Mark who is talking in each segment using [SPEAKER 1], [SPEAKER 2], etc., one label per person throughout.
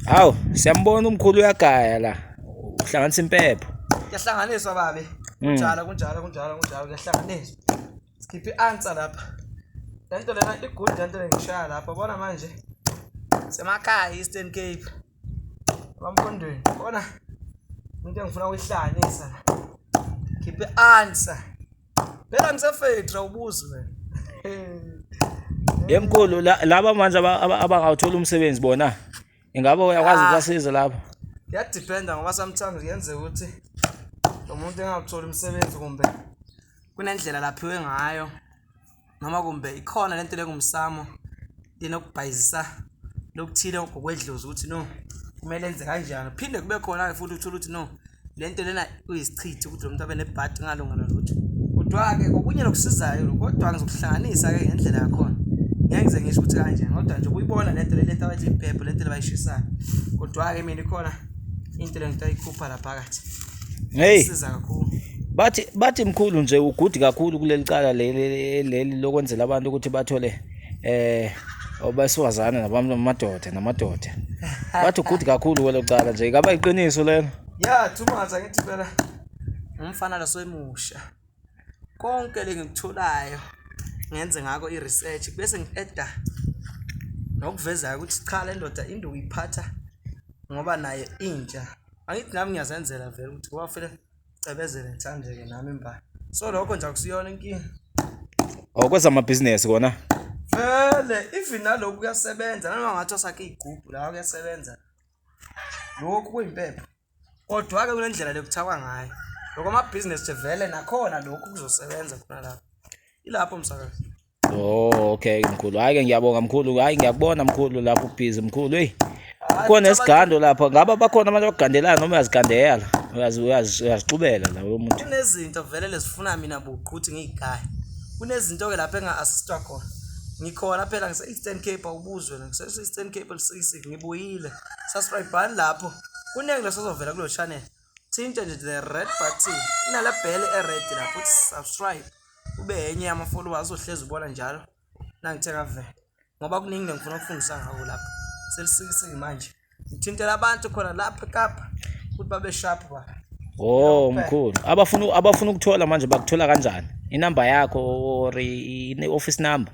[SPEAKER 1] Hawu, siyambona umkhulu uyagaya la. Uhlanganisa impepho. Kuyahlanganiswa
[SPEAKER 2] babe. Mm. Kunjalo kunjalo kunjalo kunjalo kuyahlanganiswa. Sikhiphe i-answer lapha. Lento lena i-good lento lengishaya lapha. Bona manje. Semakhaya Eastern Cape. Bamfundweni. Bona into engifuna ukuyihlangisa. Khiphe i-answer. Phela ngisefetra ubuzi wena.
[SPEAKER 1] Yemkhulu laba manje abangawuthola umsebenzi bona. Ingabe uyakwazi ah. ukubasiza lapho? Kuyadependa ngoba
[SPEAKER 2] sometimes kuyenzeka ukuthi lo muntu engakutholi umsebenzi kumbe kunendlela laphiwe ngayo noma kumbe ikhona lento lengumsamo linokubhayizisa lokuthile ngokwedlozi ukuthi no kumele enze kanjani phinde kube khona-ke futhi uthole ukuthi no le nto lena uyisichithi ukuthi lo muntu abe nebhadi ngalungana lutho kodwa-ke kokunye lokusizayo kodwa ngizokuhlanganisa-ke ngendlela yakhona ngeke ngize ngisho ukuthi kanjani kodwa nje ukuyibona le nto le lento abathi impepho le nto lebayishisayo kodwa-ke mina ikhona into le nto ayikhupha la phakathi Hey. Siza
[SPEAKER 1] kakhulu.
[SPEAKER 2] Bathi bathi
[SPEAKER 1] mkhulu nje ugudi kakhulu kuleli cala leli leli lokwenzela abantu ukuthi bathole eh obasifazane nabantu amadoda namadoda. Bathi ugudi kakhulu kwelo cala nje. Ngaba iqiniso lelo? Yeah, too much
[SPEAKER 2] angithi phela. Umfana lasoyimusha. konke lengikutholayo ngenze ngako i-research bese ngi-eda nokuvezayo ukuthi cha le ndoda into uyiphatha ngoba naye intsha angithi nami ngiyazenzela vele ukuthi ngoba fele cebezele ngithandeke nami mba so lokho nje akusiyona inkinga
[SPEAKER 1] okwezamabhizinesi oh, kona vele
[SPEAKER 2] even naloku kuyasebenza nanoma ngathi osakhe iy'gubhu lawa kuyasebenza lokhu kuyimpepho Kodwa-ke kule ndlela lekuthawa ngayo lokho amabhizinesi vele nakhona lokhu kuzosebenza khona lapho ilapho msakazi Oh
[SPEAKER 1] okay mkhulu hayi ke ngiyabonga mkhulu hayi ngiyakubona mkhulu lapho ubhizi mkhulu hey khona esigando lapha ngaba bakhona abantu abagandelana noma uyazigandela uyazixubela la lo muntu kunezinto vele lezifuna
[SPEAKER 2] mina buqhuthi ngiyigaya kunezinto ke lapha enga-assistwa khona ngikhona phela ngise-eastern cape awubuzwe ngise-eastern cape elisisi ngibuyile subscribani lapho kuningi lesozovela kulo channel thinta nje the red button inala bhele e-red lapho uthi subscribe ube enye yama-followers ohlezi ubona njalo nangithe ngavela ngoba kuningi nengifuna ukufundisa ngako lapho selisikisiki manje ngithintela abantu khona lapha ekapa ukuthi babe sharp ba Oh
[SPEAKER 1] mkhulu abafuna abafuna ukuthola manje bakuthola kanjani inamba yakho or i-office number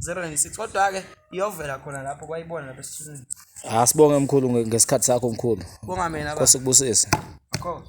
[SPEAKER 2] 096 kodwa-ke iyovela khona lapho kwayibona lapha esithunini asibonge
[SPEAKER 1] mkhulu ngesikhathi sakho mkhulu bonga
[SPEAKER 2] mina baba.
[SPEAKER 1] sikubusise
[SPEAKER 2] Of
[SPEAKER 1] course.